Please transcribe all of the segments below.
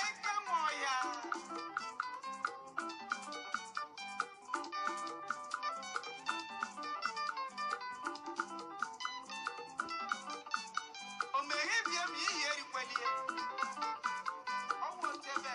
Eke nwe ọhịa. O meghebie ma iyi erikwelie. Ọ wụ otu ebe.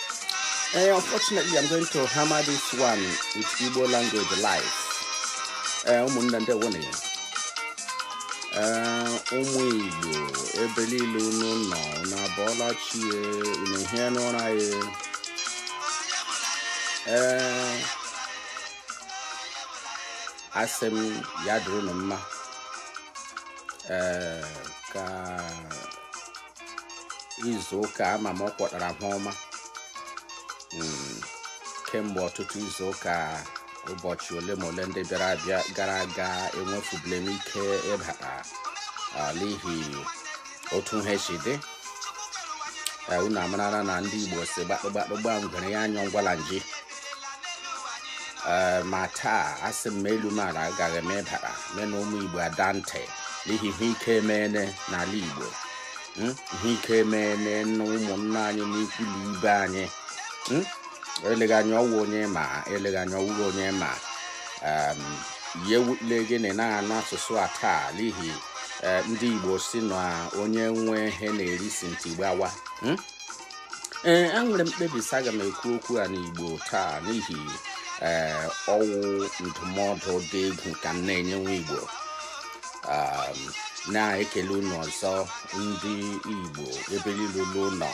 Hey, eh, unfortunately, I'm going to hammer this one with Igbo language live. Eh, ụmụnne ndewo nụ. Eh, ụmụ Igbo ebe niile unu nọ na abọọla chi unu hie n'ụra ya. Ee, asị m ya dịrị unu mma. Ee, ka izu ụka ama m ọ kwọtara ha ọma hmm, kemgbe ọtụtụ izu ụka ụbọchị ole ma ole ndị gara aga enwefubule m ike ịbata ah, n'ihi otu ihe si dị eh, unu amarala na ndị Igbo sị gbakpụgbakpụ gba ngwere ya anyọ ngwala nji ee ma taa asị m elu ma ala agaghị m ịbara me na ụmụ igbo ada ntị n'ihi ihe ike emeene n'ala igbo hmm? ihe ike emeene na ụmụnna anyị na ikwu na ibe anyị hmm? eleghị anya ọ wụ onye ma eleghị anya ọ wụghị onye ma ihe wule gị na na-anụ asụsụ a taa n'ihi e, ndị igbo sị na onye nwe ihe na-eri sị ntị gbawa hmm? ee enwere m mkpebi sị aga m ekwu okwu a n'igbo taa n'ihi ee ọ wụ ndụmọdụ dị egwu ka m na-enye nwa igbo um, na-ekele unu ọzọ ndị igbo ebe niile unu nọ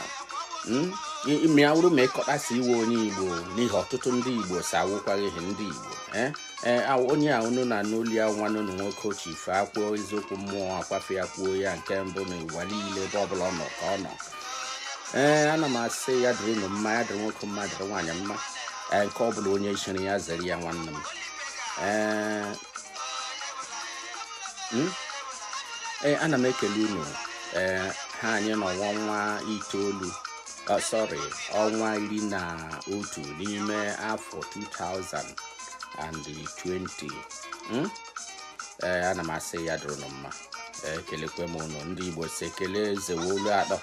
ma ọ wụrụ ma ị kweta sị ị wụ onye igbo n'ihi ọtụtụ ndị igbo sị awụkwaghị ha ndị igbo eh? Eh, onye a unu na-anụ olu ya nwanne unu nwoke chief ekwuo eziokwu mmụọ akwafe ya kwuo ya nke mbụ na ụwa niile ebe ọbụla ọ nọ ka ọ nọ ee ana m asị ya dịrị unu mma ya dịrị nwoke mma dịrị nwaanyị mma ee nke ọ bụla onye chiri ya zere ya nwanne m ee hmm? ee ana m ekele unu ee ha anyị nọ ọnwa itoolu oh, sorry ọnwa iri na otu n'ime afọ 2020 ee ana m asị ya dịrị unu mma ekelekwe m unu ndị igbo sị ekele eze wụ olu atọ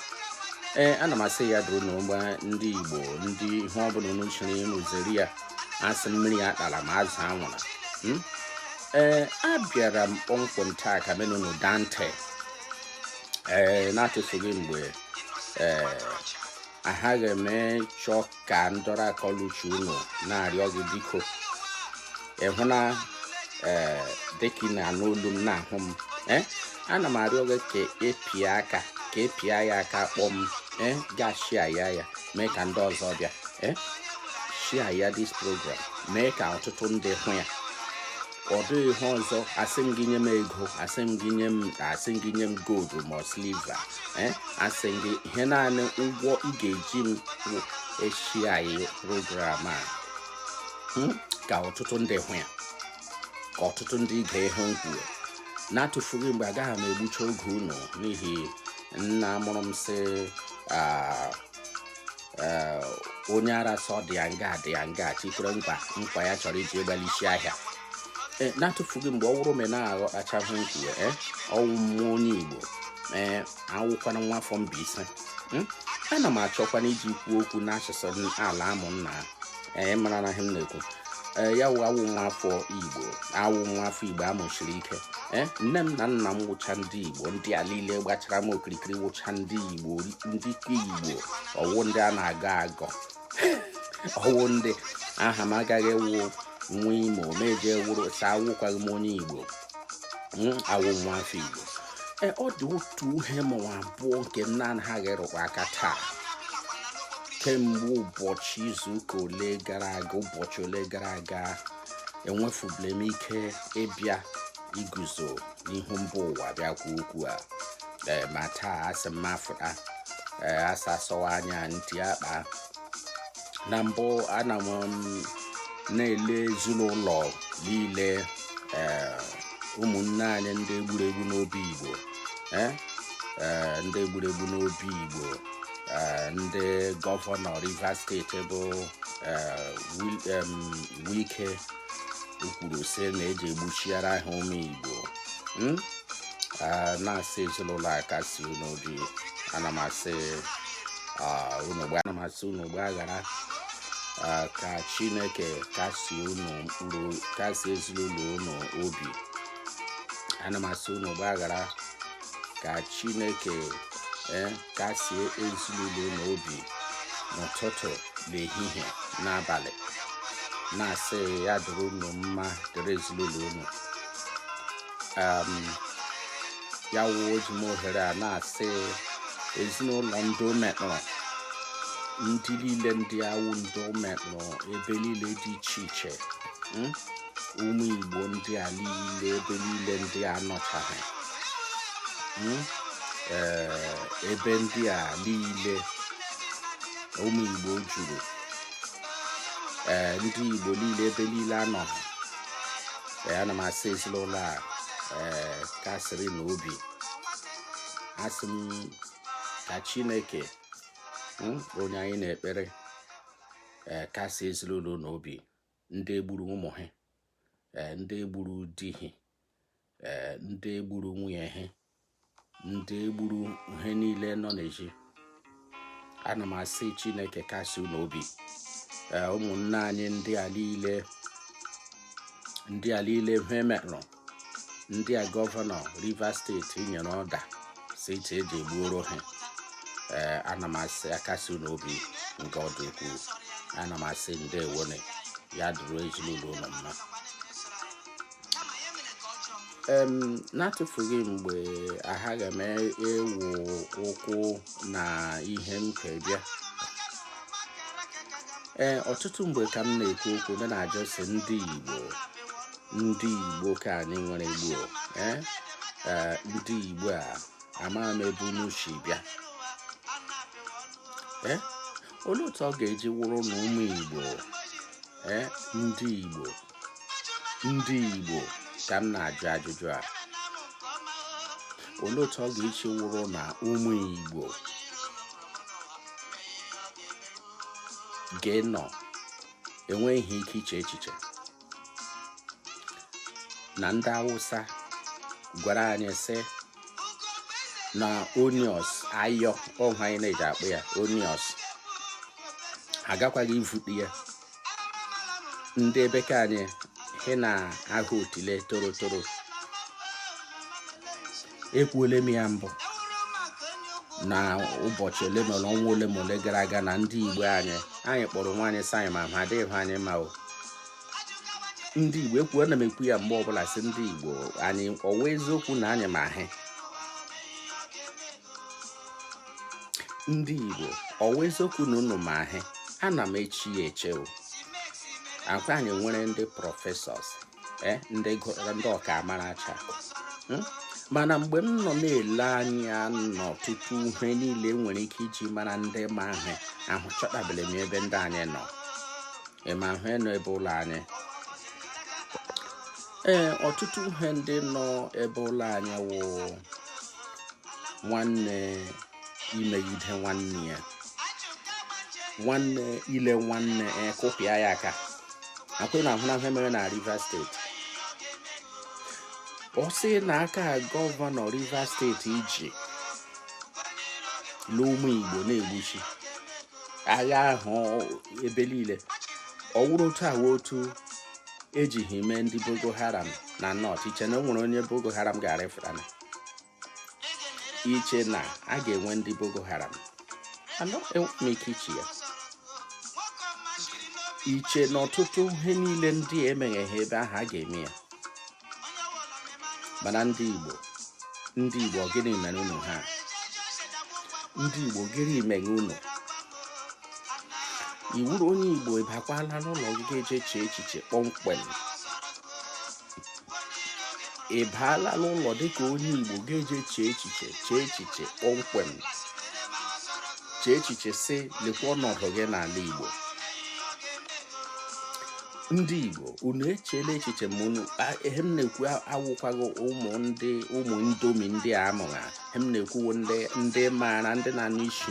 ee ana m asị ya dịrị unu mma ndị igbo ndị ihe ọbụla unu chiri unu zere ya asị mmiri atala ma azụ anwụla hmm? ee abịara m kpọmkwem taa ka me na unu da ntị ee na-atụfughị mgbe ee ahaghị m ịchọ ka ndọrọ akọluchi unu na-arịọ gị biko ịhụ na ee dịka ị na-anụ olu m na-ahụ m ee ana m arịọ gị ka ị pịa aka ka ị pịa ya aka kpọm ee gaa share ya ya mee ka ndị ọzọ bịa ee share ya this program mee ka ọtụtụ ndị hụ ya ọ dịghị ihe ọzọ asị m gị nye m ego asị m gị nye m asị m gị nye m gold ma silver eh? asị m gị ihe naanị ụgwọ ị ga-eji m wụ ị share program a hmm? ka ọtụtụ ndị hụ ya ka ọtụtụ ndị gee ihe m kwuru na-atụfughị mgbe agaghị m egbucha oge unu n'ihi nna mụrụ m sị ah, eh, onye ara sị ọ dị ya nga dị ya nga chikwere nkwa nkwa ya chọrọ iji gbaa n'isi ahịa eh, na-atụfughị mgbe ọ wụrụ ma ị na-aghọtachaghị ihe m kwuwe eh, awụ m onye igbo ee awụkwanụ m nwa afọ mbaise hmm? ana m achọkwanụ iji kwuo okwu n'asụsụ ala amụ nna ee eh, mara na ihe m na-ekwu ee eh, ya wụ awụ m nwa afọ igbo awụ m nwa afọ igbo a mụsiri ike ee eh, nne m na nna m wụcha ndị igbo ndị a niile gbachara m okirikiri wụcha ndị igbo ndị igbo ọ wụ ndị a na-agọ agọ ọ wụ ndị aha m agaghị awụ nwa imo m ejiri sị awụkwaghị m onye igbo awụ m nwa afọ Igbo e, ọ dị otu ihe ma ọ wụ abụọ nke m na-anaghị rụkwa aka taa kemgbe ụbọchị izuụka ole gara aga ụbọchị ole gara aga enwefubule m ike ịbịa iguzo n'ihu mba ụwa bịa kwuo okwu a e, ma taa asị m afụta e, a sị a sọwa anya ntị akpa na mbụ ana m um, na-ele ezinụlọ niile eh, ụmụnne anyị ndị e gburu egbu n'obigbo eh, eh, ndị e gburu egbu n'obigbo ndị gọvanọ rivers steeti bụ Wike kwuru sị na eje egbuchara ha ụmụ Igbo hmm? na-asị ezinụlọ a kasi unu obi ana m asị unu ana m asị unu gbaghara ka Chineke kasi unu mkpụrụ kasi ezinụlọ unu obi ana m asị unu gbaghara ka chineke e, kasie ezinụlọ unu obi n'ụtụtụ n'ehihie n'abalị na-asị ya dịrị unu mma dịrị ezinụlọ unu ya wụ eji m ohere a na-asị ezinụlọ ndị o metụrụ ndị niile ndị a wụ ndị o metụrụ ebe niile dị iche iche hmm? ụmụ igbo ndị a niile ebe niile ndị a nọchaghị hmm? ebe ndị a niile ụmụ igbo juru ndị igbo niile ebe niile anọghị ana m asị ezinụlọ a kasịrị na obi asị m ka chineke hmm, onye anyị na-ekpere kasị ezinụlọ unu obi ndị egburu ụmụ ha eh, ndị egburu di ha eh, ndị egburu nwunye ha ndị egburu ha niile nọ n'ezi ana m asị chineke kasị unu obi eh, ụmụnne anyị ndị a niile ndị a niile ihe merụrụ ndị a gọvanọ rivers steeti nyere ọda sị iche e jee gbuoro ha ee eh, ana m asị akasi unu obi nke ọ dị ukwuu ana m asị ndewo nụ ya dịrị ezinụlọ unu mma n'atụfughị mgbe aghaghị m ịwụ ụkwụ na ihe m ji bịa ee ọtụtụ mgbe ka m na-ekwu okwu m na-ajụ sị ndị Igbo ndị igbo ka anyị nwere igbo eh? Eh, ndị igbo a amaghị m ebe unu si bịa eh? olee otu ọ ga-eji wụrụ na ụmụ igbo ndị igbo ndị igbo ka m na-ajụ ajụjụ a olee otu ọ ga-eji wụrụ na ụmụ igbo ga-enọ enweghị ike iche echiche na ndị awụsa gwara anyị sị na onions ayọ ọhụ anyị na-eji akpọ ya onions agakwaghị ivute ya ndị ebe nke anyị he na ahụ otile torotoro ekwuole m ya mbụ na ụbọchị ole na ọnwa ole ma ole gara aga na ndị igbo anyị anyị kpọrọ onwe anyị sị anyị ma ihe adịghị anyị ma o ndị igbo ekwu ana m ekwu ya mgbe ọbụla sị ndị igbo anyị ọ wụ eziokwu na anyị ma ihe ndị igbo ọ wụ eziokwu na unu ma ihe ana m eche ya eche o ọkwa anyị nwere ndị prọfesọs eh, ndị gụrụ ndị ọkaamaracha hmm? mana mgbe m nọ na-ele anya na ọtụtụ ihe niile nwere ike iji mara ndị ma ihe ahụ achọtabeghị m ebe ndị anyị nọ ịma ihe nọ ebe ụlọ anyị ee ọtụtụ ihe ndị nọ ebe ụlọ anyị wụ nwanne imegide nwanne ya nwanne ile nwanne e, kụpịa ya aka akwụ na ahụna ihe mere na Rivers steeti ọ sị na aka gọvanọ Rivers steeti iji n'ụmụ Igbo na-egbuchi agha ahụ ebe niile ọ wụrụ otu a wụ otu ejighị mee ndị Boko Haram na North i che na o nwere onye Boko Haram ga-arịfụtana i che na a ga-enwe ndị Boko Haram enweghị m ike iche ya i che na ọtụtụ ihe niile ndị a emeghega ebe ahụ a ga-eme ya mana ndị Igbo gịnị mere unu ha ndị Igbo gịnị mere unu ị wụrụ onye igbo ị bakwala n'ụlọ gị ga-eje chee echiche kpọmkwem ị baala n'ụlọ dịka onye igbo ga-eje chee echiche chee echiche kpọmkwem chee echiche sị lekwa ọnọdụ gị n'ala igbo ndị igbo unu echeela echiche ma unu ihe m na-ekwu awụkwaghị ụmụ ndomi ndị a mụrụ m na-ekwu wụ ndị ndị maara ndị na-anụ isi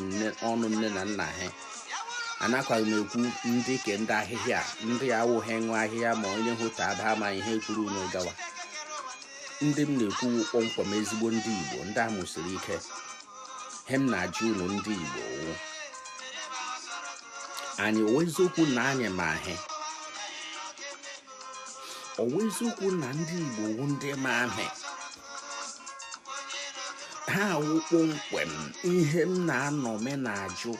ọnụ nne na nna ha anakwaghị m ekwu ndị ke ndị ahịhịa ndị awụghị ṅụ ahịhịa ma onye hụta aba ama ihe kwuru unu gawa ndị m na-ekwu kpọmkwem ezigbo ndị Igbo ndị a mụsiri ike he m na-ajụ unu ndị Igbo anyị ọ wụ eziokwu na anyị ma ihe ọ wụ eziokwu na ndị Igbo wụ ndị ma ihe ha awụ kpọmkwem ihe m na-anọ me na-ajụ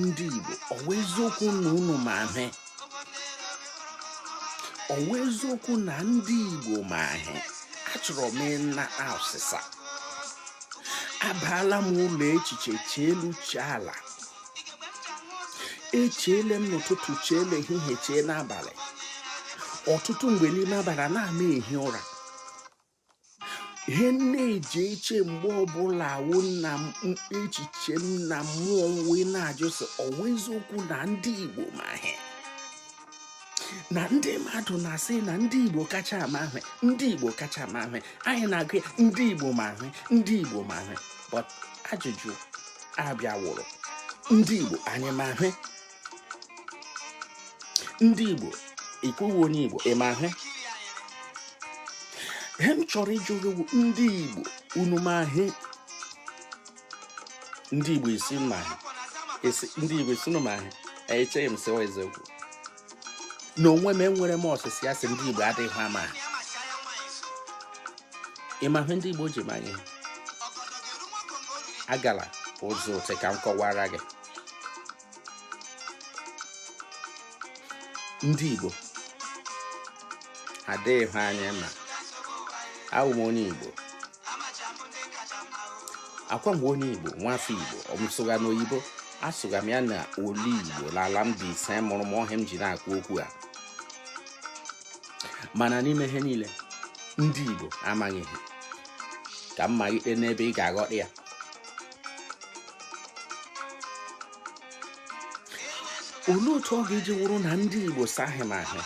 ndị Igbo ọ wụ eziokwu na unu ma ihe ọ wụ eziokwu na ndị Igbo ma ihe achọrọ m ịna asịsa abaala m ụlọ echiche chee elu chee ala echeele m n'ụtụtụ chee n'ehihie chee n'abalị ọtụtụ mgbe n'ime abalị a na-ama ehi ụra ihe m na-eji eche mgbe ọbụla wụ na echiche m na mmụọ wee na-ajụ sị ọ wụ eziokwu na ndị Igbo ma ihe na ndị mmadụ na-asị na ndị igbo kacha ama ihe ndị igbo kacha ama ihe anyị na-agụ ndị igbo ma ihe ndị igbo ma ihe but ajụjụ a bịa wụrụ ndị igbo anyị ma ihe ndị igbo ikwuwe onye igbo ị ma ihe ihe m chọrọ ịjụ gị ndị igbo unu ma ihe ndị Igbo isi ma ndị Igbo isi ma echeghị m sịwa eziokwu na onwe m enwere m ọsịsị ya sị ndị Igbo adịghị ama ịma ihe ndị Igbo ji manye agala ụzọ ote ka m kọwara gị ndị Igbo adịghị ihe anyị ma awụ m onye Igbo akwa mgbe onye igbo nwafọ igbo ọ m sụgha n'oyibo asụgha m ya na olu igbo n'ala mbaise mụrụ m ọ ihe m ji na-akwu okwu a mana n'ime ihe niile ndị igbo amaghị ihe ka m malite n'ebe ị ga-aghọta ya olee otu ọ ga-eji wụrụ na ndị igbo sị ha ma ihe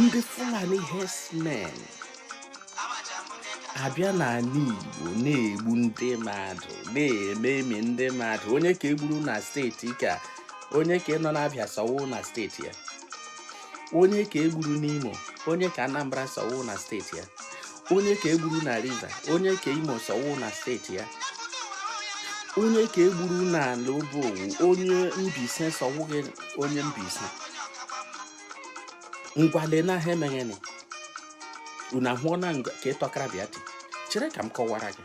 ndị fulani herdsmen abịa n'ala igbo na-egbu ndị mmadụ na-ememi ndị mmadụ onye ka e gburu na steeti ka onye ka nọ n'abịa sị ọ wụghị na steeti ya onye ka e gburu n'imo onye ka anambra sị ọ wụghị na steeti ya onye ka e gburu na rivers onye ka imo sị ọ wụghị na steeti ya onye ka e gburu na ala obowu onye mbaise sị ọ wụghị onye mbaise ngwa lee na ha emegheni unu ahụọ na ka ịtọkara bịa chere ka m kọwara gị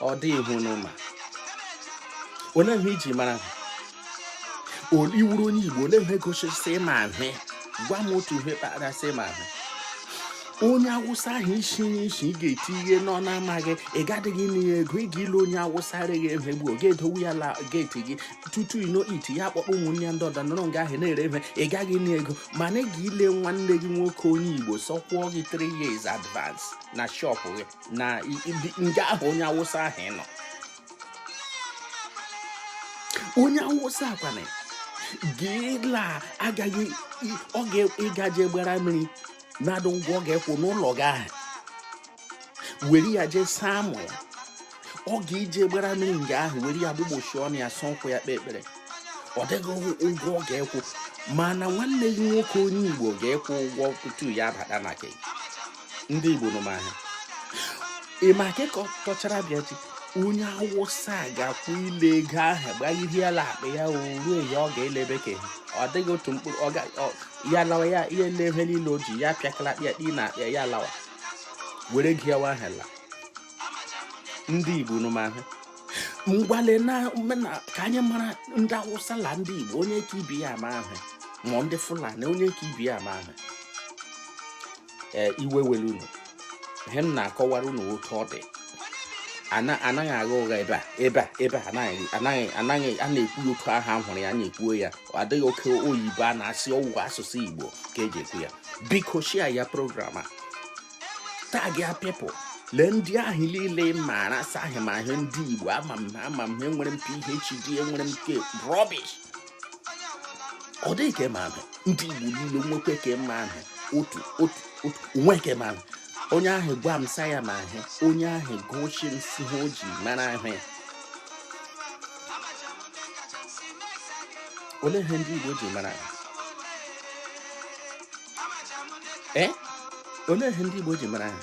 ọ dịghị ihe unu ma olee ihe i ji mara ihe i wuru onye igbo olee ihe gosisi ị ma ihe gwa m otu ihe kpara sị ị ma ihe onye awụsa ahụ isi nye isi ị ga-eti ihe nọ na-amaghị ị gadịghị ana ya ego ị ga-ele onye awụsa arịghị emegbu ọ ga-edowe ya la geeti gị tutu ino iti ya akpọkpọ ụmụnne ndị ọdọ nọrọ nga ahụ na-ere ihe ị gaghị ana ego mana ị ga-ele nwanne gị nwoke onye igbo sị ọ kwụọ gị 3 years advance na shọpụ gị na nga ahụ onye awụsa ahụ nọ onye awụsa akwana gịla agaghị ọ ga-ịgaje gbara mmiri na-adịghị ụgwọ ọ ga-akwụ n'ụlọ gị ahụ were ya jee saa amụ ya ọ ga-eje gbara mmiri nga ahụ were ya gbụgbochi ọnụ ya saa ụkwụ ya kpee ekpere ọ dịghị ụgwọ ọ ga-akwụ mana nwanne gị nwoke onye Igbo ga-akwụ ụgwọ tutu ya abata na gị ndị Igbo unu ma ihe ị ma ka tọchara bịa chi onye awụsa ga-akwụ ile ego ahụ gbagidie ala akpa ya ruo ya ọ ga-elebe ka ọ dịghị otu mkpụrụ ya lawa ya ihe nleve niile o ji ya pịakala akpịa akpị na akpịa ya lawa were gị yawa ahụ la ndị Igbo unu ma ihe ngwa lee na ka anyị mara ndị awụsa la ndị Igbo onye ka ibe ya ama ihe ma ndị Fulani onye ka ibe ya ama ihe eh, iwe were unu ihe m na-akọwara unu otu ọ dị anaghị agha ụgha ebe a ebe a ebe a anaghị anaghị anaghị a na-ekwu otu ahụ m hụrụ ya na-ekwuo ya adịghị oke oyibo a na-asụ ọwụ asụsụ igbo ka eji ekwu ya biko share ya program a tag ya people lee ndị ahụ niile maara sị ha ma ihe ndị igbo ama m ama m enwere m phd enwere m ke rubbish ọ dịghị ke ma ihe ndị igbo niile nwekwe ke ma ihe otu otu otu o nwee ke ma ihe onye ahụ gwa m si ya ma ihe onye ahụ goshi m si ihe o ji mara ihe ya olee ihe ndị igbo ji mara ihe ee olee ihe ndị igbo ji mara ihe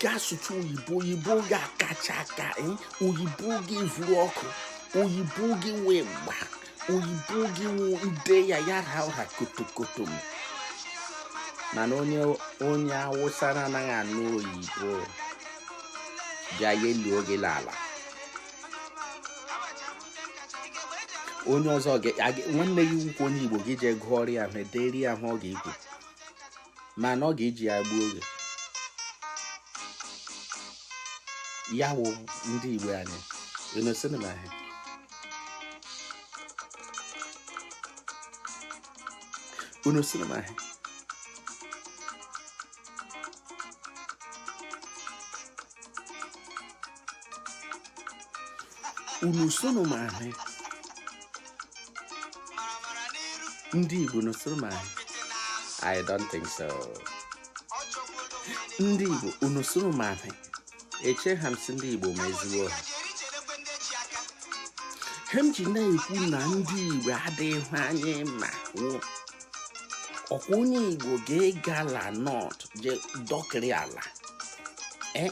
gaa sụcha oyibo oyibo gị akacha aka eh? oyibo gị vuru ọkụ oyibo gị nwee mgba oyibo gị nwee ide ya ya ra ụra kotokoto m mana onye onye awụsa na-anaghị anụ oyibo bịa ya elie gị n'ala onye ọzọ nwanne gị ukwu onye igbo gị jee gụọrọ ya ihe edere ahụ ọ ga-ekwu mana ọ ga-eji ya gbuo gị ya wụ ndị igbo anyị unu sị unu ma ihe unu sị unu ma ihe unu sị unu ma ihe ndị Igbo unu sị unu ma ihe I don't think so ndị Igbo unu sị unu ma ihe echeghị m si ndị Igbo ma ezigbo ihe ihe m ji na-ekwu na ndị Igbo adịghị anyị ma ọkwa onye Igbo ga-agala North je dọkịrị ala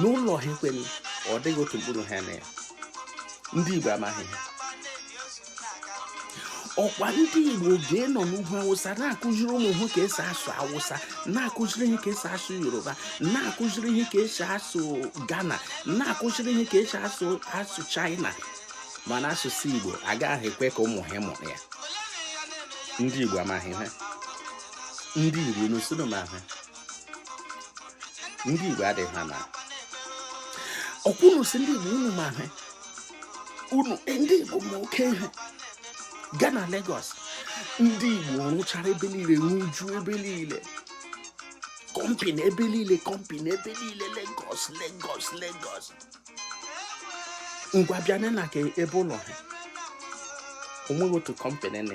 n'ụlọ ha ekweghị ọ dịghị otu mkpụrụ ha na ya ndị Igbo amaghị ihe ọkwa ndị igbo ga-anọ n'ugwu awụsa na-akụziri ụmụ ha ka esi asụ awụsa na-akụziri ha ka esi asụ yoruba na-akụziri ha ka esi asụ ghana na-akụziri ha ka esi asụ china mana asụsụ igbo agaghị ekwe ka ụmụ ha mụrụ ya ndị igbo amaghị ihe ndị igbo unu sị unu ma ihe ndị Igbo adịghị ha na ọkwa unu si ndị Igbo unu ma ihe unu eh, ndị Igbo ma oke ihe gaa na Lagos ndị Igbo rụchara ebe niile rụjuo ebe niile company ebe niile company ebe niile Lagos Lagos Lagos ngwa bịa na ke ebe ụlọ ha onweghị otu company na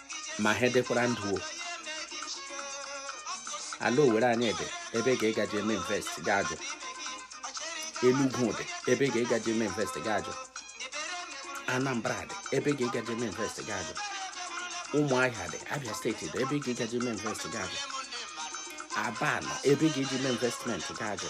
ma ha edekwara ndụ o ala owere anyị dị ebe ga ịgaji eme invest gị ajụ enugwu dị ebe ga ịgaji eme invest gị ajụ anambra dị ebe ga ịgaji eme invest gị ajụ ụmụahịa dị abịa steeti dị ebe ga ịgaji eme invest gị ajụ aba nọ ebe ị ga-eji eme investment gị ajụ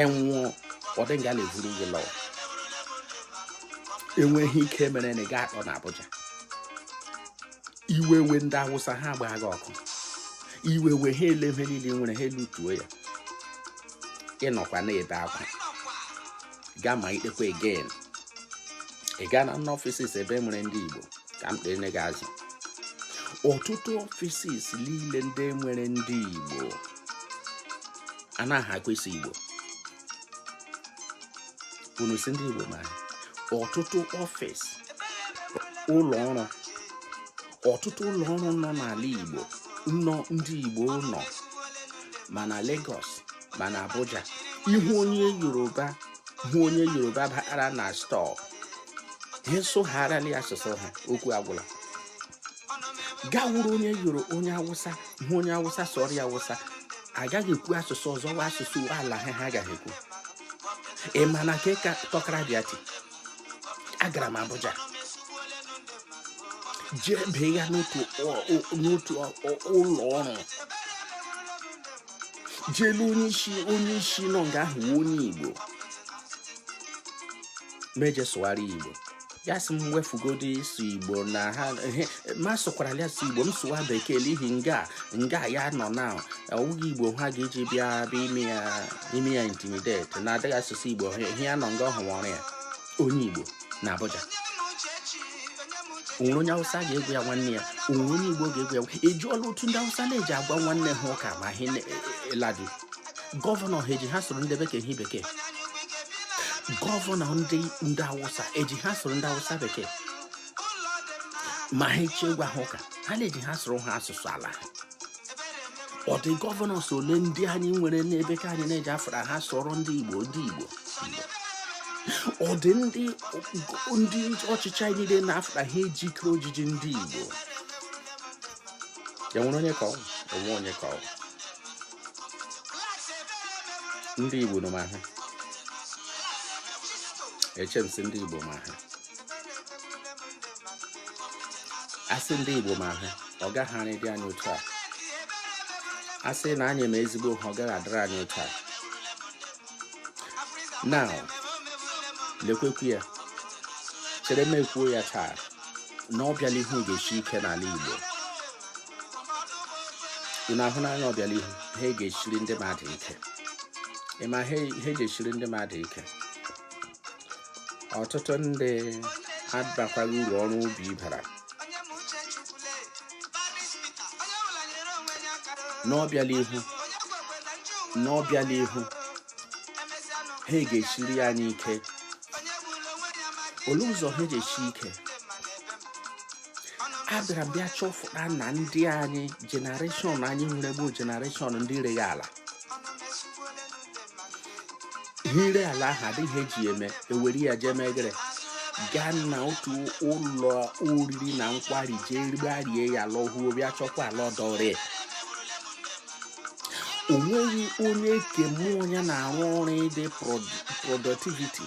ị nwụọ ọ dị nga na-evuru gị lọọ enweghị ike mere na ị ga akpọ na Abuja iwe wee ndị awụsa ha gbaa gị ọkụ iwe wee ha ele ihe niile i nwere ha elutuo ya ị nọkwa na-ebe akwa gaa ma ikpekwa again ị gaa na n'offices ebe e nwere ndị Igbo ka m kpee gị azụ ọtụtụ offices niile ndị nwere ndị Igbo anahakwa ịsụ igbo unu si ndị igbo ma ọtụtụ office ụlọ ọrụ ọtụtụ ụlọ ọrụ nọ n'ala igbo nọ ndị igbo nọ ma na Lagos ma na Abuja ị hụ onye yoruba hụ onye yoruba bara na store ha sụgharịala asụsụ ha okwu agwụla gị awụrụ onye yoro onye awụsa hụ onye awụsa sụọrọ ya awụsa agaghị ekwu asụsụ ọzọ wụ asụsụ ala ha ha ga-ekwu ị ma na nke ka tọkara bịa ti agara m Abuja jee bee ya n'otu ụlọ ọrụ jee lee onye isi onye isi nọ nga ahụ onye Igbo m eje sụgharị Igbo ya sị m wefugodi ịsụ igbo na ha m asụkwarala ya igbo m sụwa bekee n'ihi nga nga ya nọ na ọ wụghị igbo ha ga-eji bịa bịa ime ya ime ya intimidate na adịghị asụ igbo ihe ya nọ nga ọrụ ya onye igbo na abuja o nwere onye awụsa ga-agwa ya nwanne ya o nwere onye igbo ga-agwa ya ị jụọla otu ndị awụsa na-eji agwa nwanne ha ụka ma ihe e, e, e, ladi gọvanọ ha ejighị asụrụ ndị bekee ihe bekee gọvanọ ndị ndị awụsa ejighị asụrụ ndị awụsa bekee ma ha eche gwa ha ụka ha na-eji asụrụ ha asụsụ ala ha ọ dị gọvanọs ole ndị anyị nwere n'ebe ka anyị na-eji afara ha asụrụ ndị igbo ndị igbo ọ dị ndị ndị ọchịchị anyị niile na-afara ha ejike ejiji ndị igbo enwere onye ka ọ onwe onye ka ọ ndị Igbo nọ ma ihe eche m sị ndị Igbo ma ihe asị ndị Igbo ma ihe ọ gaghị anyị dị anyị otu a asị na anyị ma ezigbo ihe ọ gaghị adịrị anyị otu a na lekwekwu ya chere m ekwuo ya taa na ọbịala ihu ga-esi ike n'ala Igbo ị na-ahụ n'anya ọbịala ihu ihe ga-eshiri ndị mmadụ ike ị ma ihe ji eshiri ndị mmadụ ike ọtụtụ ndị adakwaghị uru ọrụ ubi bara n'ọbịala ihu ihe ga-eshiri anyị ike olee ụzọ ihe ji eshi ike a bịara bịa chọfụta na ndị anyị generation anyị nwere bụ generation ndị rere ala ire ala ahụ adịghị eji eme ewere ya jee mee gịrị gaa na otu ụlọ oriri na nkwari jee rigbarie ya lọhuo bịa chọkwa ala ọdọ ree o nweghị onye nke mmụọ ya na-arụ ọrụ ịdị productivity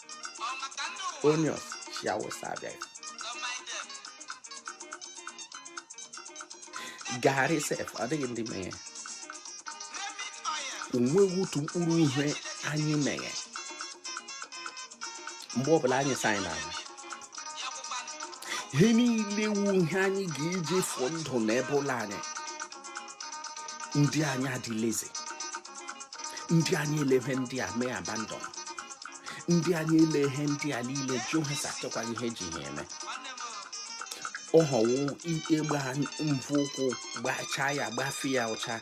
onions si Awụsa abịa gari sef ọ dịghị ndị meghe onweghị otu mkpụrụ ihe anyị meghe mgbe ọbụla anyị sị na ihe niile wu ihe anyị ga-eji fụọ ndụ na ebe ụlọ anyị ndị anyị adị lazy ndị anyị elee ihe ndị a mee abandon ndị anyị elee ihe ndị a niile jụ ha sị achọkwaghị ihe eji ha eme ọ họwụ ịgba mvọ ụkwụ gbachaa ya gbafe ya ụcha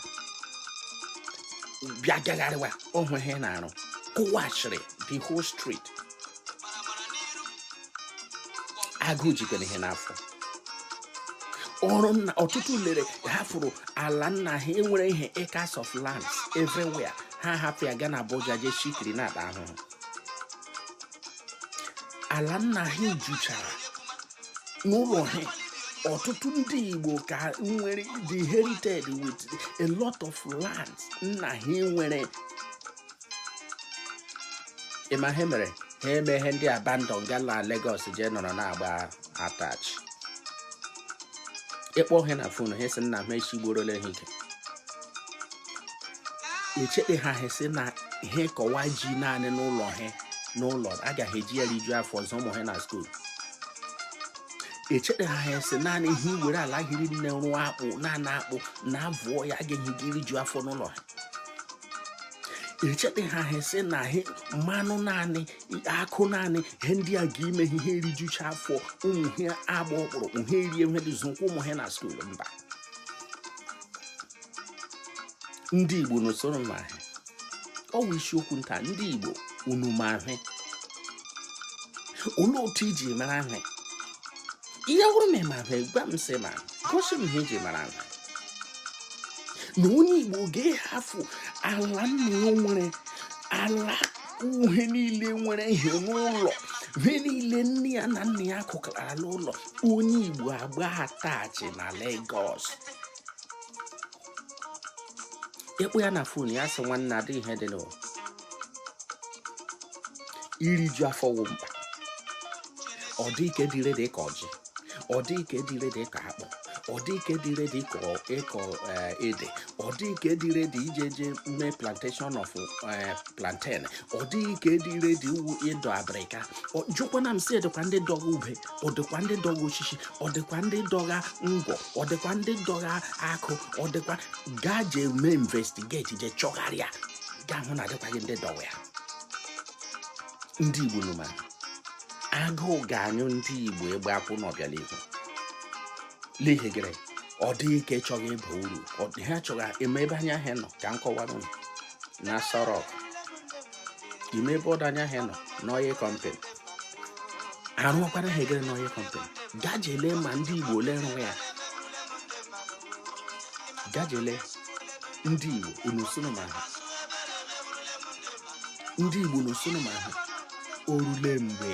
bịa gagharịwa ọhụ ihe na-arụ kụwachiri the whole street agụụ jikwara ha n'afọ ọrụ nna ọtụtụ lere hafụrụ ala nna ha nwere ihe acres of land everywhere ha hapụ ya gaa na Abuja jee shikiri na-akpa ahụhụ ala nna ha juchara n'ụlọ ha ọtụtụ ndị Igbo ka nwere the heritage with a lot of land nna ha nwere ị ma ihe mere ha eme ihe ndị abandon gaa na Lagos jee nọrọ na-agba attach ị kpọọ ha na fon ha sị nna ha echi gbuorola ha ike echeta ha ha sị na ha kọwa ji naanị n'ụlọ ha n'ụlọ agaghị eji ya rijuo afọ zụọ ụmụ ha na skuul echeta ha ha sị naanị ha were ala hiri nne rụọ akpụ naanị akpụ na abụọ ya agaghị eji rijuo afọ n'ụlọ ha echeta ha ha sị na ha mmanụ naanị akụ naanị ihe ndị a ga-ime ha erijucha afọ ụmụ ha agba ọkpụrụkpụ ha erie ihe dị zụkwa ụmụ ha na skuul mba ndị igbo unu sị unu ma ihe ọ wụ isiokwu m taa ndị igbo unu ma ihe olee otu i ji mara ihe ya wụrụ ma ị ma ihe gwa m sị ị ma gosi m ihe i ji mara ihe na onye igbo ga-ahafụ ala nna ya nwere ala ihe niile nwere ihe n'ụlọ he niile nne ya na nna ya kụkara n'ụlọ onye igbo agba attach na Lagos ị kpọọ ya na fon ya sị nwanne adịghị ihe dị n'ụwa iriju afọ wụ mkpa ọ dịghị nke dị ready ịkọ ji ọ dịghị nke dị ready ịkọ akpụ ọ dịghị nke dị ready ịkọ eh, ede ọ dịghị nke dị ready ije jee mee plantation of eh, plantain ọ dịghị nke dị ready ịdọ abịrịka jụkwana m sị ọ dịkwa ndị dọga ube ọ dịkwa ndị dọga osisi ọ dịkwa ndị dọga ngwọ ọ dịkwa ndị dọga akụ ọ dịkwa gaa jee mee investigate jee chọgharịa ga-ahụ na adịkwaghị ndị dọga ya ndị igbo unu ma agụụ ga-anyụ ndị igbo ikpakwụ n'ọbịa n'ihu n'ihi gịrị ọ dịghị nke chọga ịba uru ha chọga ime ebe anya ahịa nọ ka m kọwara unu na Aso Rock ime ebe ọdụ anya ahịa nọ n'oil company arụọkwara ha egere n'oil company gaa jee lee ma ndị igbo ole rụrụ ya gaa jee lee ndị Igbo unu sị unu ma ihe ndị Igbo unu sị unu ma ihe o ruole mgbe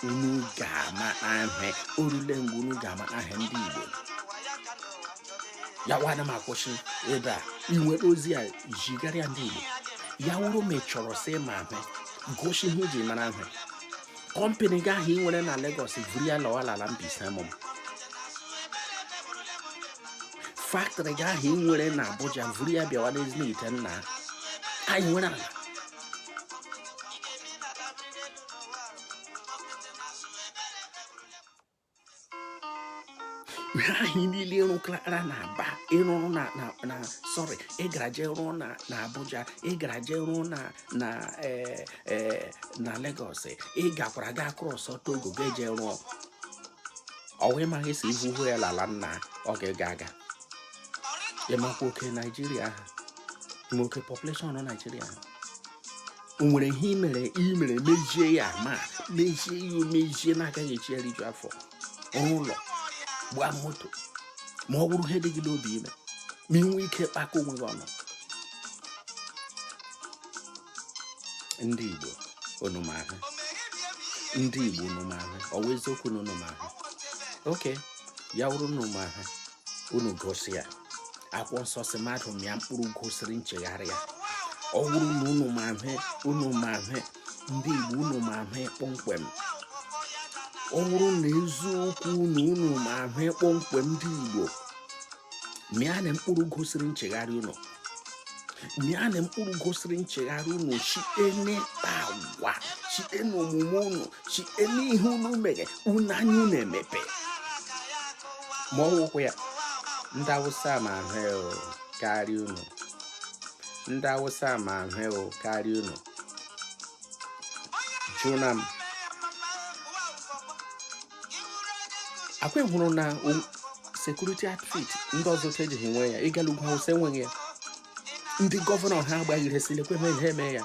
unu ga-ama ihe o ruole mgbe unu ga-ama ihe ndị Igbo ya wana m akwụsị ebe a i were ozi a jigara ya ndị Igbo ya wụrụ ma ị chọrọ sị ị ma ihe gosi ihe i ji mara ihe kọmpani gị ahụ ị nwere na Lagos vuru ya lawa ala Mbaise mụ faktrị gị ahụ ị nwere na Abuja vuru ya bịawa n'Ezinihitte nna anyị nwere ala ihe ahụ niile ị rụkara na aba ị rụrụ na na sorry ị gara jee rụọ na na abuja ị gara jee rụọ na na e, e, na lagos ị gakwara ga cross togo ga eje rụọ ọ wụ ị maghị sị i buru ya lala nna ọ ga-ega aga ị makwa oke naijiria ha ma oke population naijiria ha o nwere ihe i mere i mere mejie ya ma mejie ya omejie na-agaghị echi eriju afọ rụọ ụlọ gbaa moto ma ọ bụrụ ihe dị gị n'obi ime ma ị nwee ike kpakọ onwe gị ọnụ ndị Igbo unu ma ihe ndị Igbo unu ma ihe ọ wụ eziokwu na unu ma ihe okay ya wụrụ na unu ma ihe unu gosi ya akwụkwọ nsọ sị mmadụ mịa mkpụrụ gosiri nchegharị ya ọ bụrụ na unu ma ihe unu ma ihe ndị igbo unu ma ihe kpọmkwem ọ bụrụ na eziokwu na unu ma ihe kpọmkwem ndị igbo mịanụ mkpụrụ gosiri nchegharị unu mịanụ mkpụrụ gosiri nchegharị unu site n'ịkpa agwa site n'omume unu chi eme ihe unu mere unu anya unu emepe ma ọ wụkwa ya ndị awụsa ma ihe karịa unu ndị awụsa ma ihe karịa unu jụna m akwa hụrụ na security outfit ndị ọzọ ejighị nwe ya ị gala ugwu awụsa enweghị ya ndị gọvanọ ha agbaghị ihe silekwe ha ihe eme ya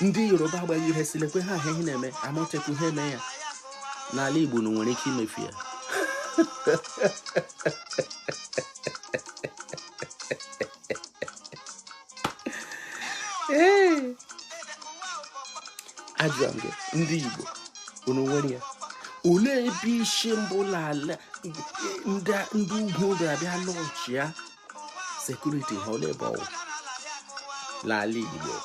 ndị yoruba agbaghị ihe silekwe ha ahụ ihe na-eme amotekun ihe eme ya n'ala igbo na nwere ike imefu ya ajụọ m gị ndị igbo unu nwere ya olee ebe isi mbụ n'ala ndị ugwu ga-abịa launchịa security ha olee ebe ọ wụ n'ala Igbo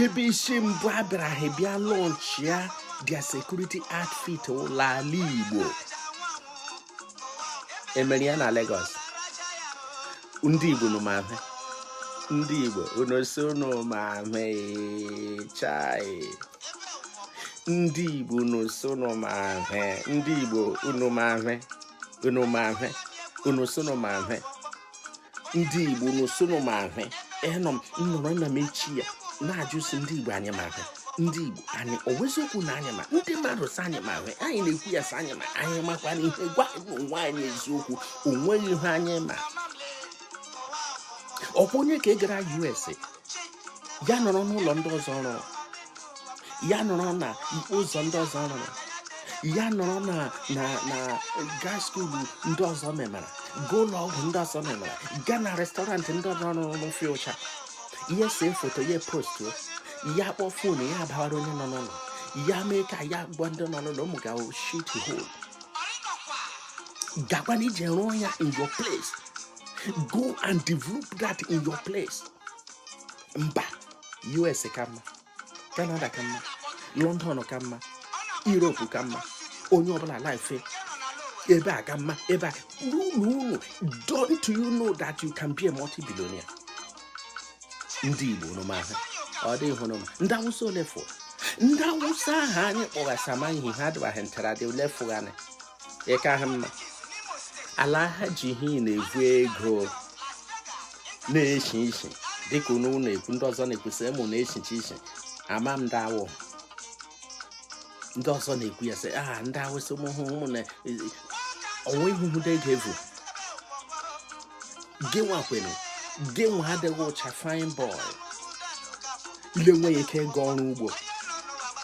ebe isi mbụ a bịara ha bịa launchịa their security outfit n'ala Igbo e mere ya na Lagos ndị Igbo unu ma ihe ndị Igbo unu sị unu ma ihe chai ndị Igbo unu sị unu ma ihe ndị Igbo unu ma ihe unu ma ihe unu sị unu ma ihe ndị igbo unu sị unu ma ihe ịnọ m nọrọ na m eche ya na-ajụ sị ndị igbo anyị ma ihe ndị igbo anyị ọ wụ eziokwu na anyị ma ndị mmadụ sị anyị ma ihe anyị na-ekwu ya sị anyị ma anyị makwa na ihe gwa onwe anyị eziokwu o nweghị ihe anyị ma ọ kwa onye ka ị gara us ya nọrọ n'ụlọ ndị ọzọ rụrụ ya nọrọ na ụzọ ndị ọzọ rụrụ ya nọrọ na na na gaa school ndị ọzọ memara gaa ụlọ ọgwụ ndị ọzọ memara gaa na restaurant ndị ọzọ rụrụ n'ofe ụcha ya see foto ya postuo ya kpọọ phone ya abawara onye nọ n'ụlọ ya mee ka ya gwa ndị nọ n'ụlọ ụmụ ga shit hole gakwanụ jee rụọ ya in your place go and develop that in your place mba us ka mma canada ka mma london ka mma europe ka mma onye ọbụla life ebe a ka mma ebe a n'ụlọ ụlọ don't you know that you can be a multi-billionaire ndị igbo unu ma hụ ọ dị hụrụ m ndị awụsa ole fụ ndị awụsa ahụ anyị kpọgha asị ma ihe ha dịbaghị ntara dị ole fụ anyị ịka ha mma ala ha ji ihe na-evu ego na-eshi ishi dịka unu na-ekwu ndị ọzọ na-ekwu sị unu na-eshi ishi ama m ndị ha wụ ndị ọzọ na-ekwu ya sị aha ndị awụsa ụmụ hụ ụmụ na ọnwa ihuhudo ego evu gị nwakwanụ gị nwa adịgha ụcha fine boy na-enweghị ike ịga ọrụ ugbo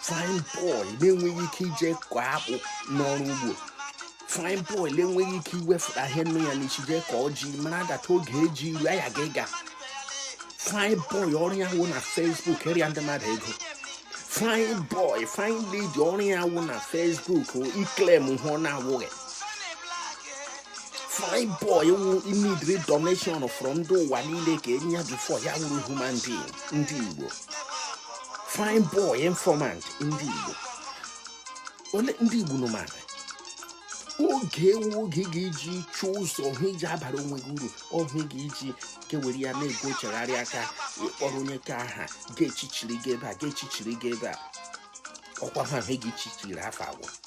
fine boy na-enweghị ike ije kọọ akpụ n'ọrụ ugbo fine boy na-enweghị ike iwefụta ihe nọ ya n'isi jee kọọ ji mara adata oge eji iru ya ga ịga fine boy ọrụ ya wụ na Facebook ịrịọ ndị mmadụ ego fine boy fine lady ọrụ ya wụ na Facebook iclaim hụ ọ na-awụghị fine boy wụ imidri donation from ndị ụwa niile ka enye ya before ya wụrụ human being ndị Igbo fine boy informant ndị Igbo ole ndị Igbo unu mara oge a wụ oge ị ga-eji chọọ ụzọ ọhụ iji abara onwe gị uru ọhụ ị ga-eji kewere ya na-ego chegharị aka ịkpọrọ onye ka aha ga-echichiri gị ebe a ga-echichiri gị ebe a ọkwa ha ahụ gị chichiri afọ agwụ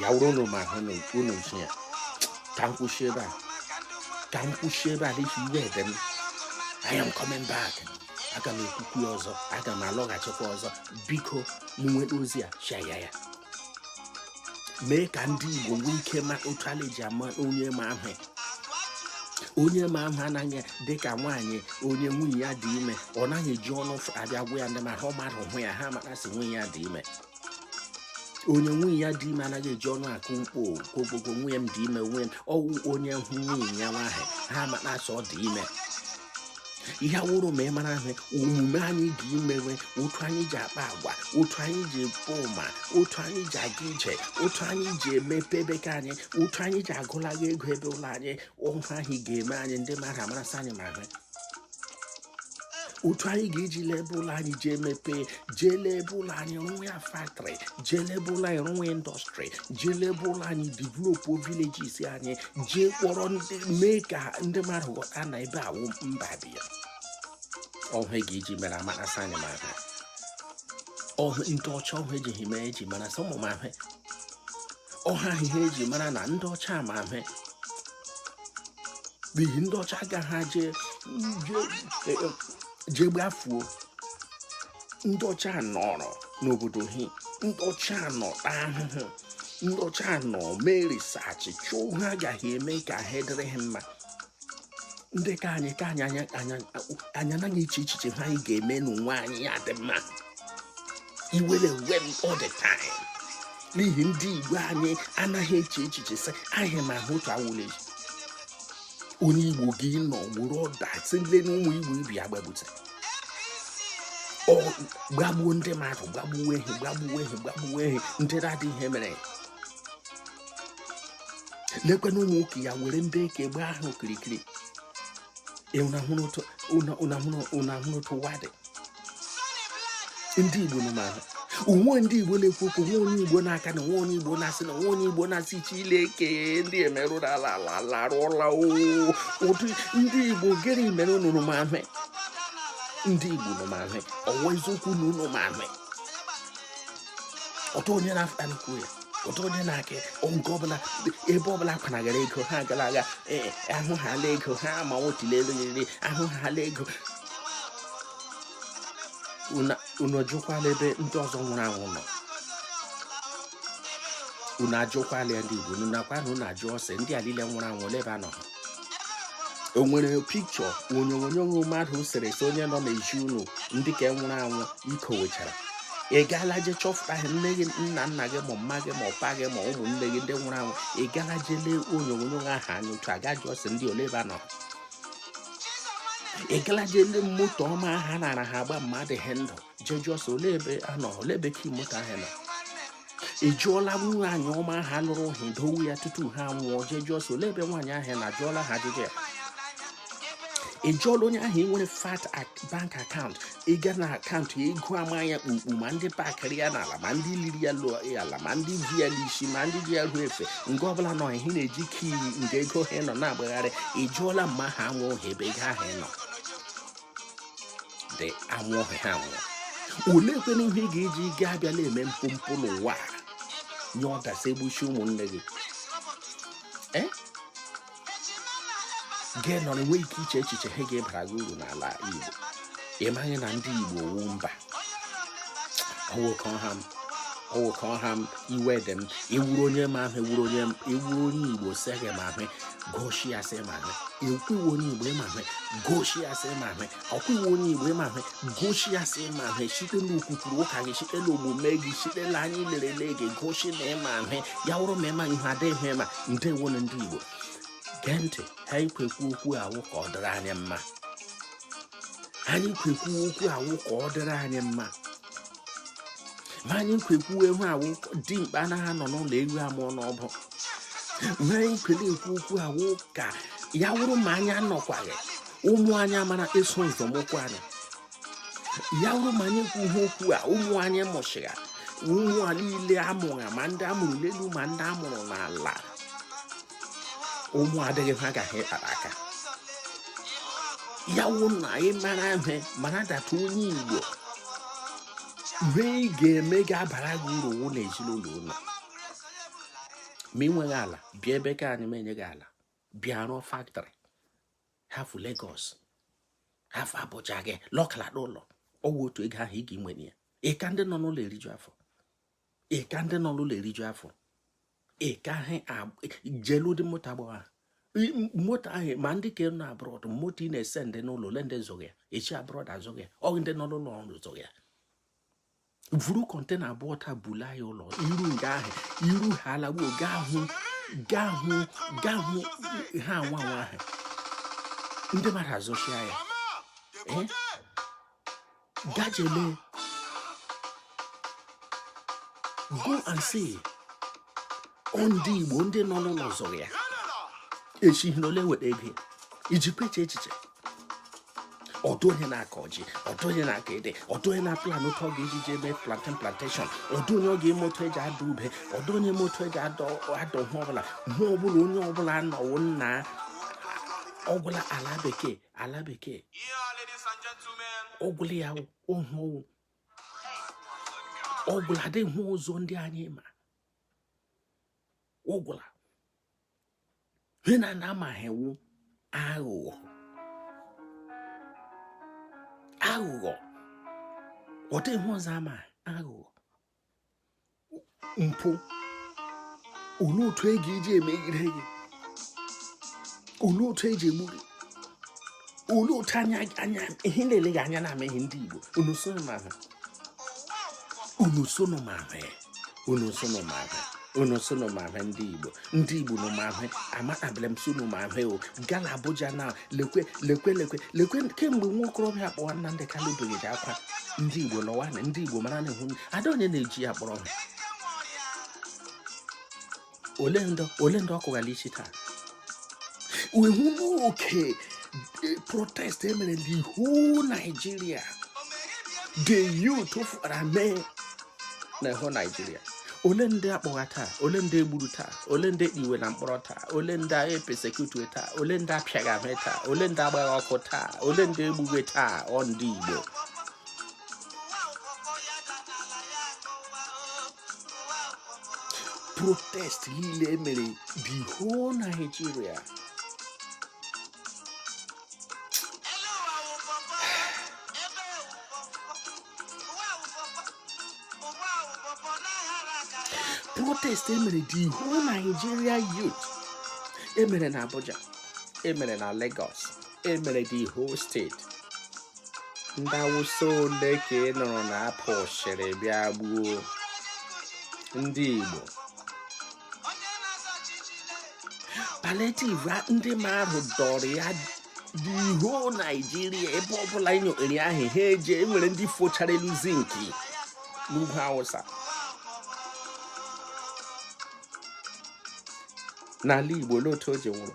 ya wụrụ unu ma hụ unu nso ya ka m kwụsị ebe a ka m kwụsị ebe a n'ihi iwe ede m I am coming back aga m ekwukwu ya ọzọ aga m alọghachikwa ọzọ biko ị nweta ozi a share ya ya mee ka ndị Igbo nwee ike ma otu a la-eji ama onye ma hụ onye ma hụ na-adị ka nwaanyị onye nwunye ya dị ime ọ naghị eji ọnụ abịa gwa ya ndị ma ha mmadụ hụ ya ha mara sị nwunye ya dị ime onye nwunye ya dị ime anaghị eji ọnụ akụ mkpo kogbogo nwunye m dị ime nwunye m ọ wụ onye hụ nwunye ya nwaanyị ha amara sị ọ dị ime ihe awụrụ ma ị mara hụ omume anyị dị imewe otu anyị ji akpa agwa otu anyị ji ebu ụma otu anyị ji aga ije otu anyị ji emepe ebe ke anyị otu anyị ji agụlaga ego ebe ụlọ anyị ọ wụ hụ ga-eme anyị ndị mmadụ amara sị anyị ma hụ otu anyị ga-eji laba ụlọ anyị jee mepee jee laba ụlọ anyị rụnwe ya faktọrị jee laba ụlọ anyị rụnwe indọstrị jee laba ụlọ anyị developu vileges anyị jee kpọrọ ndị mee ka ndị mmadụ ghọta na ebe a wụ mba dị ya ọhụ e ga-eji mere amara sị anyị ma ihe ọhụ ndị ọcha ọhụ ejighị mee eji mara sọmụmahụ ọha ihe eji mara na ndị ọcha ma ihe n'ihi ndị ọcha agaghị jee gbafuo ndị ọcha nọrọ n'obodo ha ndị ọcha nọ taa ahụhụ ndị ọcha nọ mee risaachị chọọ ihe aga ha eme ka ihe dịrị ha mma ndị ka anyị ka anyị anaghị eche echiche ihe anyị ga-eme n'onwe anyị ya dị mma iwere ewe m all the time n'ihi ndị igbo anyị anaghị eche echiche sị anyị ma ihe otu awụle onye igbo gị nọ wụrụ ọda sile na ụmụ igbo ibe ya gbagbute gbagbuo ndị mmadụ gbagbuo ha ndị na-adịghị ihe mere lekwe na ụmụ nwoke ya were ndị eke gba ahụ okirikiri unu ahụrụ otu ụwa dị ndị igbo unu ma ihe o nwe ndị igbo na-ekwu okwu o nwe onye igbo na-aka o nwe onye igbo na-asị o nwe onye igbo na-asị chileke ndị emerụrụ ala ala arụọla ụdị ndị igbo gịnị mere unu ma ihe ndị igbo unu ma ihe ọ wụ eziokwu na unu ma ihe ọtọ onye na-afụta na-ekwu ya ọtọ onye na-aka nke ọbụla ebe ọbụla kwanagara ego ha gara aga ee ahụ ha ala ego ha ma nwotile elu yiri ahụ ha ala ego unu ajụkwala ebe ndị ọzọ nwụrụ anwụ nọ unu ajụkwala ya ndị Igbo unu nakwa na unu ajụọ sị ndị a niile nwụrụ anwụ ole ebe ha nọ o nwere pikchọ onyonyo mmadụ sere so onye nọ n'ezi unu ndị ka nwụrụ anwụ i kowechara ị gaala je chọpụta ha nne gị nna gị ma mma gị ma mpa gị ma ụmụnne gị ndị nwụrụ anwụ ị gaala je lee onyonyo ahụ anya otu a ga jụọ sị ndị a ole ebe ha nọ ị gaala je lee moto ọma ha nara ha agba ma adị ha ndụ je jụọ sị olee ebe a nọ olee ebe ka moto ahụ nọ ị jụọla nwaanyị ọma ha lụrụ ha dowe ya tutu ha nwụọ je jụọ sị olee ebe nwaanyị ahụ nọ ị jụọla ha ajụjụ ya ị jụọla onye ahụ nwere fat bank akaụntụ ịga na akaụntụ ya ego ama ya kpukpu ma ndị pakịrị ya n'ala ma ndị liri ya lụọ ya ala ma ndị ji ya n'isi ma ndị ji ya ruo efe nke ọbụla nọ ihe na-eji kii nke ego ha nọ na-agbagharị ị jụọla ma anwụọ ha ebe ego ahụ nọ dị anwụ ọhịa ha nwụrụ olee kwena ihe ị ga-eji gaa abịa na-eme mpompo n'ụwa nye order sị e gbuchie ụmụnne gị gị nọrọ nwee ike iche echiche ihe ga-abara gị uru n'ala Igbo ị maghị na ndị Igbo wụ mba ọwụkọ ọha m iwe dị m ị wụrụ onye ma ihe ị wụrụ onye Igbo sị gị ma ihe goshi ya sị ị ma ihe ọ kwa ị wụ onye igbo ị ma ihe goshi ya sị ị ma ihe ọ kwa ị wụ onye igbo ị ma ihe goshi ya sị ị ma ihe site n'okwukwuru ụka gị site n'omume gị site na anyị lerele gị goshi na ị ma ihe ya wụrụ ma ị ma ihe ọ dịghị ị ma ndewo nụ ndị igbo gee ntị ihe anyị kwọ ekwu okwu a wụ ka ọ dịrị anyị mma anyị kwọ ekwu okwu a wụ ka ọ dịrị anyị mma ma anyị kwọ ekwu ihe a wụ dimkpa anaghị anọ n'ụlọ ewu amụọ n'ọgbụ ma anyị kwọrọ ekwu okwu a wụ ka ya wụrụ ma anyị anọkwaghị ụmụ anyị amara eso nzọmụkwụ anyị ya wụrụ ma anyị kwu ihe okwu a ụmụ anyị mụchịgha ụmụ anyị niile amụgha ma ndị a mụrụ n'elu ma ndị a mụrụ n'ala ụmụ adịghị ha gaghị ịkpara aka ya wụ na ị mara ihe mara that onye igbo ihe ị ga-eme ga-abara gị uru wụ na ezinụlọ ụlọ ma ị nweghị ala bịa ebe ka anyị menye gị ala bịa rụọ factory hafụ Lagos hafụ Abuja gị lọkala n'ụlọ ọ wụ otu ego ahụ ị ga-enwe ya ị ka ndị nọ n'ụlọ eriju afọ ị ka ndị nọ n'ụlọ eriju afọ ị ka ha jee lee ụdị moto a gbagha moto ahụ ma ndị ka nọ abroad moto Innoson dị n'ụlọ ole ndị zụgha ya e shi abroad azụgha ya ọ ndị nọ n'ụlọ ọrụ zụgha ya vuru container abụọ taa bula ya ụlọ i ru nga ahụ i ru ha alagbuo gaa hụ gaa hụ gaa hụ ha nwa nwa ahụ ndị mmadụ azụchia ya Ga je lee. Go and see. Ndị Igbo ndị nọ n'ụlọ zụrụ ya. E shi n'ole weta ego iji kweche echiche. Ọ dị onye na-akọ ji, ọ dị onye na-akọ ede, ọ dị onye na-aplan otu ọ ga-eji jee mee plantain plantation, ọ dị onye ọ ga-eme otu e ji ada ube, ọ dị onye eme otu e ji ada ihe ọbụla, ihe ọbụla onye ọbụla nọwo nna ọ gwụla ala bekee ala bekee ọ gwụla ya ohu owu ọ gwụla ọ dịghị ihe ọzọ ndị anyị ma ọ gwụla ihe ha na-ama wụ aghụghọ aghụghọ ọ dịghị ihe ọzọ ha ma aghụghọ mpụ olee otu e ga-eji emegide gị olee otu eji egbu gị olee otu anya anya ihe na-ele gị anya na-ama ihe ndị Igbo unu sonu ma ihe unu sonu ma ihe unu sonu ma ihe unu sonu ma ihe ndị igbo ndị igbo nụ ma ihe amatabere m sonu ma ihe ewu gala abuja na lekwe lekwe lekwe lekwe kemgbe nwa okorobịa kpọwa Nnamdi Kanu beghịrị akwa ndị igbo lọwa na ndị igbo mara na ihu ada onye na-eji ya kpọrọ ha ole ndị ọ kụghara isi taa we hụ n'oke eh, protest emere the whole Nigeria the youth fara mee na whole Nigeria ole ndị akpọgha taa ole ndị egburu taa ole ndị ekpiwe na mkpọrọ taa ole ndị agha epersecute taa ole ndị apịagha ihe taa ole ndị agbagha ọkụ taa ole ndị egbughe taa ọ ndị Igbo protest niile emere the whole Nigeria protest emere the whole Nigeria youth emere na Abuja emere na Lagos emere the whole state ndị awụsa ole ka ị nụrụ na a pụsịrị bịa gbuo ndị igbo palliative ndị mmadụ dọrọ ya the whole Nigeria ebe ọbụla nyokpere ahụ ha eji enwere ndị fochara elu zinki n'ugwu awụsa n'ala igbo olee otu o ji wụrụ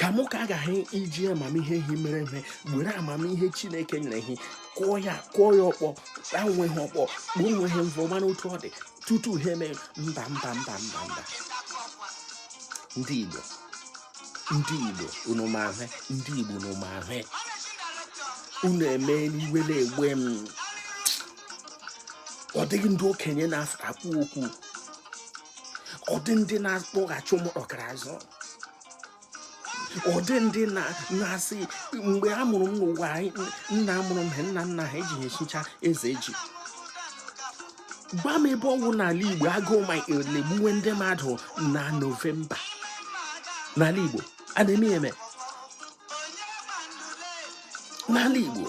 ka mụ ka agaghị iji amamihe ihe mere ihe were amamihe chineke nyere ihe kụọ ya kụọ ya ọkpọ onwe ha ọkpọ kpuo onwe ha mvọ mana otu ọ dị tutu ha eme mba mba mba mba mba ndị igbo ndị igbo unu ma ihe ndị igbo unu ma ihe unu eme n'iwe na-ewe m ọ dịghị ndị okenye na-ekwu okwu ọ dị ndị na-akpọghachi ụmụ ọkara azụ ọ dị ndị na-asị mgbe a mụrụ m n'ụwa nna mụrụ m nna nna ha ejighị echicha eze ji gwa m ebe ọ wụ n'ala igbo agụụ ma na-egbuwe ndị mmadụ na novemba n'ala igbo a na-eme eme n'ala Igbo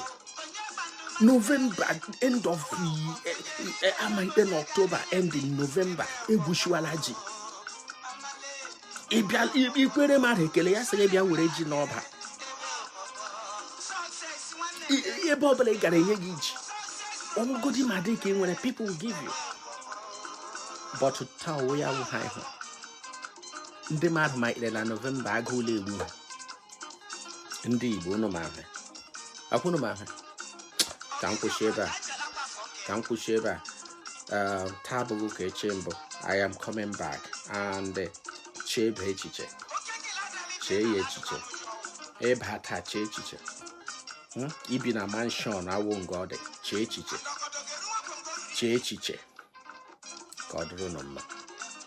novemba end of eh, eh, amaikpe na ọktoba end in novemba egwuchawala ji ị kele mmadụ ekele ya sị gị bịa were ji n'ọba ebe ọ bụla ị gara e nye gị ji ọ wụgodi ma dị ka ị nwere people will give you but taa onwe ya wụ ha ịhụ ndị mmadụ ma ikpere na novemba agụụ la-egbu ha ndị Igbo unu ma ihe ọ kwa unu ma ihe ka m kwụsị ebe a ka m kwụsị ebe a um, taa abụghị ka eche mbụ I am coming back and eh, chebe echiche chee ya echiche ebe a taa chee echiche hmm? ibi na mansion awụ nga ọ dị chee echiche chee echiche ka ọ dịrị unu mma